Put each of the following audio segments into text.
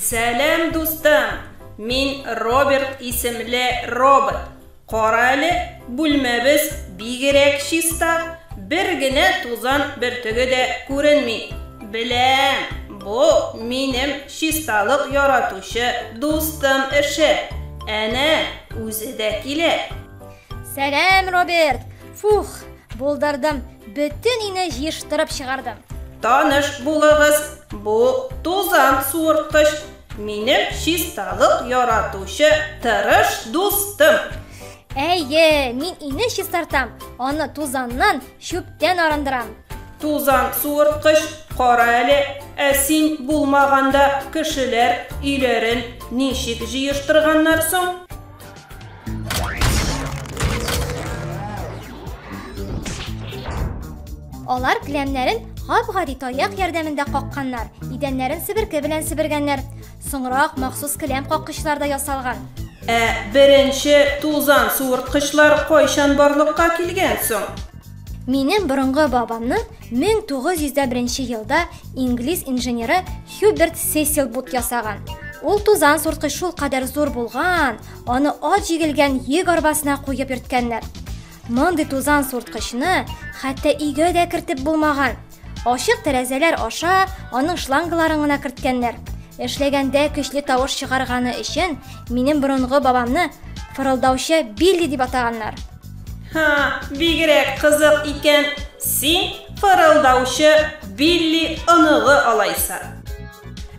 Сәлам, дустым! Мин Роберт исемле робот. Кара әле, бүлмәбез бигерәк чиста, бер генә тузан бөртеге дә күренми. Беләм, бу минем чисталык яратучы дустым эше. Әнә, үзе дә килә. Сәлам, Роберт! Фух, булдырдым. Бөтен ине җыештырып чыгардым. Таныш булыгыз, бу тузан суырткыч. Минем чисталык яратучы тырыш дустым. Әйе, мин ине чистартам, аны тузаннан, чүптән арындырам. Тузан суырткыч, кара әле, ә син булмаганда кешеләр өйләрен ничек җыештырганнар соң? Алар кләмнәрен гап-гади таяк ярдәмендә какканнар, идәннәрен себерке белән себергәннәр. Соңрак махсус кләм каккычлар да ясалган. Ә беренче тузан суырткычлар кайчан барлыкка килгән соң? Минем борынгы бабамның 1901 елда инглиз инженеры Хьюберт Сесил бут ясаган. Ул тузан сурткы шул кадәр зур булган, аны ат җигелгән йөк арбасына куеп йөрткәннәр. Мондый тузан сурткычны хәтта өйгә дә кертеп булмаган. Ачык тәрәзәләр аша аның шлангаларын гына керткәннәр. Эшләгәндә көчле тавыш чыгарганы өчен минем борынгы бабамны фырылдаучы Билли дип атаганнар. Ха, бигрәк кызык икән. Син фырылдаучы Билли оныгы алайса.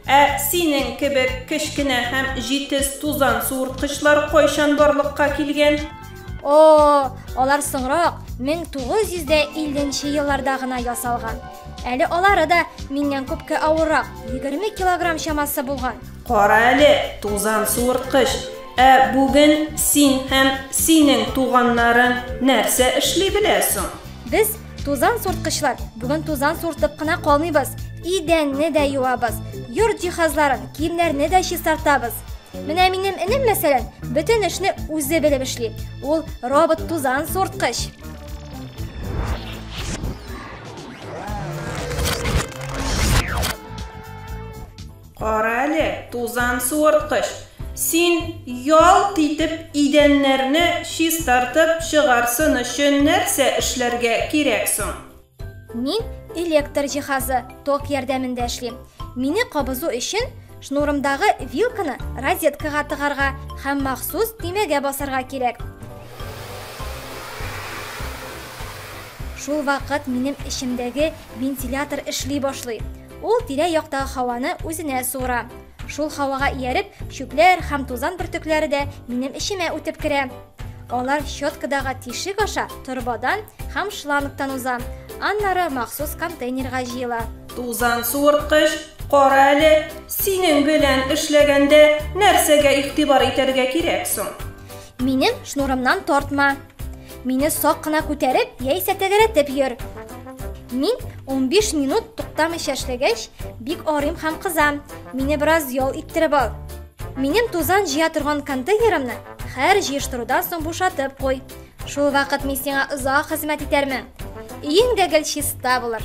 Ә синең кебек кечкенә һәм җитез тузан суырткычлар кайчан барлыкка килгән? О, алар соңрак, 1950 елларда гына ясалган. Әле алары да миннән күпкә авыррак, 20 килограмм чамасы булган. Кара әле, тузан суырткыч, Ә бүген син һәм синең туганнарың нәрсә эшли белә соң? Без, тузан сурткычлар, бүген тузан суртып кына калмыйбыз. Идәнне дә юабыз, йорт җиһазларын, киемнәрне дә чистартабыз. Менә минем энем, мәсәлән, бөтен эшне үзе белеп эшли. Ул робот тузан сурткыч. Кара әле, тузан суырткыч, син ялт итеп идәннәрне чистартып чыгарсын өчен нәрсә эшләргә кирәк соң? Мин электр җиһазы, ток ярдәмендә эшлим. Мине кабызу өчен шнурымдагы вилканы розеткага тыгарга һәм махсус төймәгә басарга кирәк. Шул вакыт минем эчемдәге вентилятор эшли башлый. Ул тирә-яктагы һаваны үзенә суыра. Шул һавага ияреп, чүпләр һәм тузан бөртекләре дә минем эчемә үтеп керә. Алар щеткадагы тишек аша торбадан һәм шлангтан уза, аннары махсус контейнерга җыела. Тузан суырткыч, кара әле, синең белән эшләгәндә нәрсәгә игътибар итәргә кирәк соң? Минем шнурымнан тартма. Мине сак кына күтәреп, яисә тәгәрәтеп йөр. Мин 15 минут туктамыйча эшләгәч, бик арыйм һәм кызам. Мине бераз ял иттереп ал. Минем тузан җыя торган контейнерымны хәр җыештырудан соң бушатып куй. Шул вакыт мин сиңа озак хезмәт итәрмен. Өең дә гел чиста булыр.